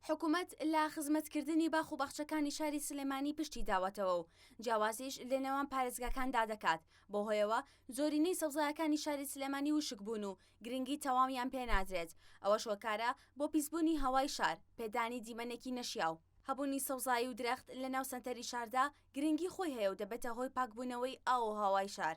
حکومەت لە خزمەتکردنی باخ و باخچەکانی شاری سلێمانی پشتی داوەتەوە و جیاوازیش لەنێوان پارێزگاکاندا دەکات، بەو هۆیەوە زۆرینەی سەوزایەکانی شاری سلێمانی وشکبوون و گرنگی تەواویان پێنادرێت، ئەوەش هۆکارە بۆ پیسبوونی هەوای شار، پێدانی دیمەنێکی نەشیاو. هەبوونی سەوزایی و درەخت لەناو سەنتەری شاردا گرنگی خۆی هەیە و دەبێتە هۆی پاکبوونەوەی ئاو و هەوای شار،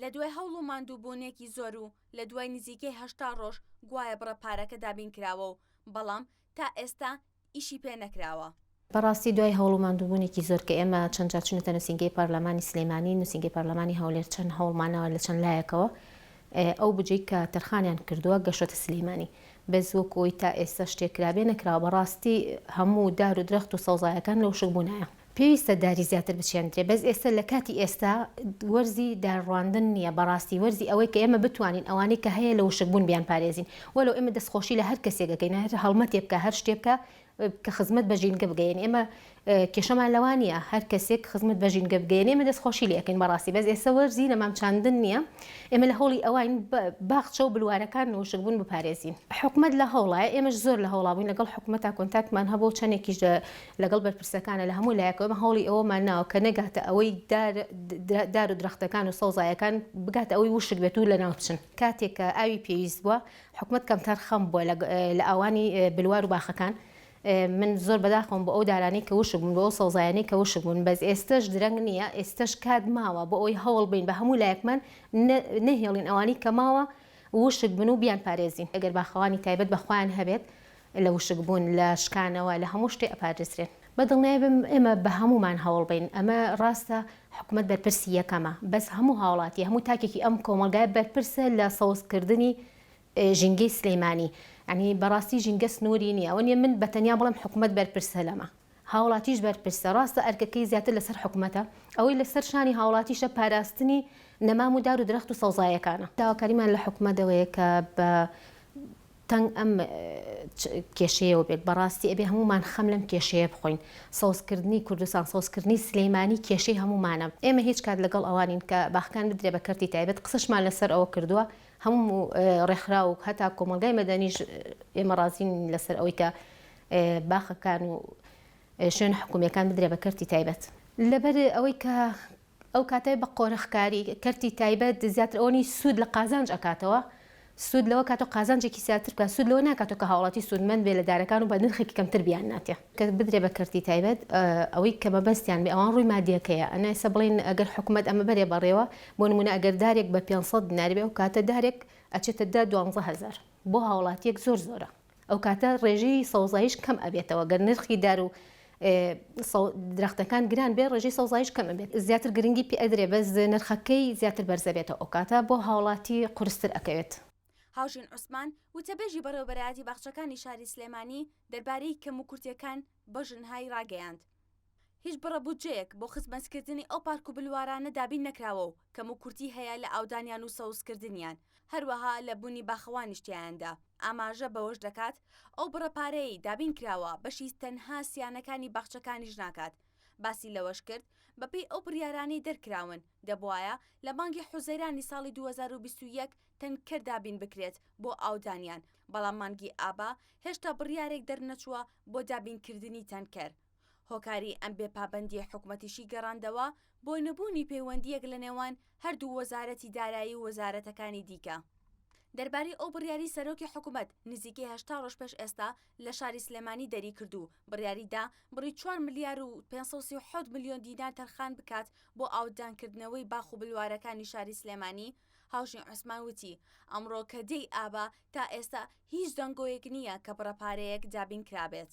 لە دوای هەوڵ و ماندووبوونێکی زۆر و لە دوای نزیکەی هەشتا ڕۆژ گوایە بڕە پارەکە دابین کراوە و بەڵام تا ئێستا ئیشی پێ نەکراوە. بەڕاستی دوای هەوڵ و ماندووبوونێکی زۆر کە ئێمە چەند جار چووینەتە نووسینگەی پارلەمانی سلێمانی، نووسینگەی پارلەمانی هەولێر چەند هەوڵمان ناوە لە چەند لایەکەوە ئەو بودجەی کە تەرخانیان کردووە گەشتۆتە سلێمانی بەس وەکو ئەوەی تا ئێستا شتێک کرابێ نەکراوە بەڕاستی هەموو دار و درەخت و سەوزایەکان لەوشک بوونایە. پێویستە داری زیاتر بچێندرێ بەس ئێستە لە کاتی ئێستا وەرزی دار ڕواندن نیە بەڕاستی وەرزی ئەوەی کە ئێمە بتوانین ئەوانەی کە هەیە لە وشک بوون بیان پارێزین وەلەو ئێمە دەست خۆشی لە هەر کەسێک ئەکەین هەر هەڵمەتێ بکا هەر شتێ بکا کە خزمەت بە ژینگە بگەیەنێ ئێمە کێشەمان لەوان نیە هەر کەسێک خزمەت بە ژینگە بگەیەنێ ئێمە دەست خۆشی لێ ئەکەین بەڕاستی بەس ئێستا وەرزی نەمام چاندن نیە ئێمە لە هەوڵی ئەواین باخچە و بلوارەکان لە وشک بوون بپارێزین حکومەت لە هەوڵە ئێمەش زۆر لە هەوڵا بووین لەگەڵ حکومەتا کۆنتاکتمان هەبوو چەندێکیش لەگەڵ بەرپرسەکانە لە هەموو لایەکەوە ئێمە هەوڵی ئەوەمان ناوە کە نەگاتە ئەوەی دار دار و درەختەکان و سەوزایەکان بگاتە ئەوەی وشک بێت و لەناو بچن کاتێک کە ئاوی پێویست بووە حکومەت کەمتەر خەم بووە لە ئاوانی بلوار و باخەکان من زۆر بەداخەوەم بۆ ئەو دارانەی کە وشک بوون بۆ ئەو سەوزایانەی کە وشک بوون بەس ئێستەش درەنگ نییە ئێستەش کات ماوە بۆ ئەوی هەوڵ بین بە هەموو لایەکمان نەهێڵین ئەوانی کە ماوە وشک بن و بیان پارێزین ئەگەر باخەوانی تایبەت بە خۆیان هەبێت لە وشک بوون لە شکانەوە لە هەموو شتێ ئەپارێزرێن بە دڵنیای بم ئێمە بە هەموومان هەوڵ بەین ئەمە ڕاستە حکومەت بەرپرسی یەکەمە بەس هەموو هاوڵاتی هەموو تاکێکی ئەم کۆمەڵگایە بەرپرسە لە سەوز کردنی ژینگەی سلیمانی یانی بەڕاستی ژینگە سنوری نیە ئەوە نیە من بە تەنیا بڵێم حکومەت بەرپرسە لەمە. هاوڵاتیش بەرپرسە، ڕاستە ئەرکەکەی زیاتر لەسەر حکومەتە، ئەوەی لەسەر شانی هاوڵاتیشە پاراستنی نەمام و دار و درەخت و سەوزایەکانە. داواکاریمان لە حکومەت ئەوەیە کە بە تەنگ ئەم کێشەیەوە بێت، بەڕاستی ئەبێ هەموومان خەم لەم کێشەیە بخۆین، سەوزکردنی کوردستان، سەوزکردنی سلێمانی کێشەی هەموومانە، ئێمە هیچ کات لەگەڵ ئەوە نین کە باخەکان بدرێ بە کەرتی تایبەت، قسەشمان لەسەر ئەوە کردووە، هەموو ڕێکخراو و هەتا کۆمەڵگای مەدەنیش ئێمە ڕازی نین لەسەر ئەوەی کە باخەکان و شوێنە حکومیەکان بدرێ بە کەرتی تایبەت. لەبەر ئەوەی کە ئەو کاتە بە قۆرخکاری کەرتی تایبەت زیاتر ئەوە نیە سود لە قازانج ئەکاتەوە سود لەوە کاتەوە قازانجێکی زیاتر بکات سود لەوە ناکاتەوە کە هاوڵاتی سودمەند بێ لە دارەکان و بە نرخێکی کەمتر بیان ناتێ. کە بدرێ بە کەرتی تایبەت ئەوەی کە مەبەستیان بێ ئەوان ڕووی مادیەکەیە ئەنا ئێستا بڵێن ئەگەر حکومەت ئەمە بەرێ بەڕێوە بۆ نمونە ئەگەر دارێک بە پێنج سەد دینار بێ ئەو کاتە دارێک ئەچێتە دە دوانزە هەزار بۆ هاوڵاتیەک زۆر زۆرە ئەو کاتە ڕێژەی سەوزاییش کەم ئەبێتەوە گەر نرخی دار و درەختەکان گران بێ ڕێژەی سەوزاییش کەم ئەبێت زیاتر گرنگی پێ ئەدرێ بەس نرخەکەی زیاتر بەرز ئەبێتەوە ئەو کاتە بۆ هاوڵاتی قورستر ئەکەوێت. هاوژین عوسمان، وتەبێژی بەڕێوەبەرایەتی باخچەکانی شاری سلێمانی، دەربارەی کەموکورتییەکان بە ژنهای ڕاگەیاند، هیچ بڕە بودجەیەک بۆ خزمەتکردنی ئەو پارک و بلوارانە دابین نەکراوە و کەموکورتی هەیە لە ئاودانیان و سەوزکردنیان، هەروەها لە بوونی باخەوانیش تیایاندا، ئاماژە بەوەش دەکات، ئەو بڕە پارەیەی دابین کراوە بەشی تەنها سیانەکانی باخچەکانیش ناکات، باسی لەوەشکرد، بەپێی ئەو بڕیارانەی دەرکراون، دەبوایە لە مانگی حوزەیرانی ساڵی دوو هەزار و بیست و یەک تەنکەر دابین بکرێت بۆ ئاودانیان، بەڵام مانگی ئابە هێشتا بڕیارێک دەرنەچووە بۆ دابینکردنی تەنکەر. هۆکاری ئەم بێ پابەندییە حکومەتیشی گەڕاندەوە بۆ نەبوونی پەیوەندییەک لە نێوان هەردوو وەزارەتی دارایی و وەزارەتەکانی دیکە. دەربارەی ئەو بڕیاری سەرۆکی حکومەت نزیکەی هەشتا ڕۆژ پێش ئێستا لە شاری سلێمانی دەریکرد و بڕیاری دا بڕی چوار ملیار و پێنج سەد و سی و حەوت ملیۆن دینار تەرخان بکات بۆ ئاوددانکردنەوەی باخ و بلوارەکانی شاری سلێمانی هاوژین عوسمان وتی ئەمڕۆ کە دێی ئابە تا ئێستا هیچ دەنگۆیەک نییە کە بڕە پارەیەک دابینکرابێت.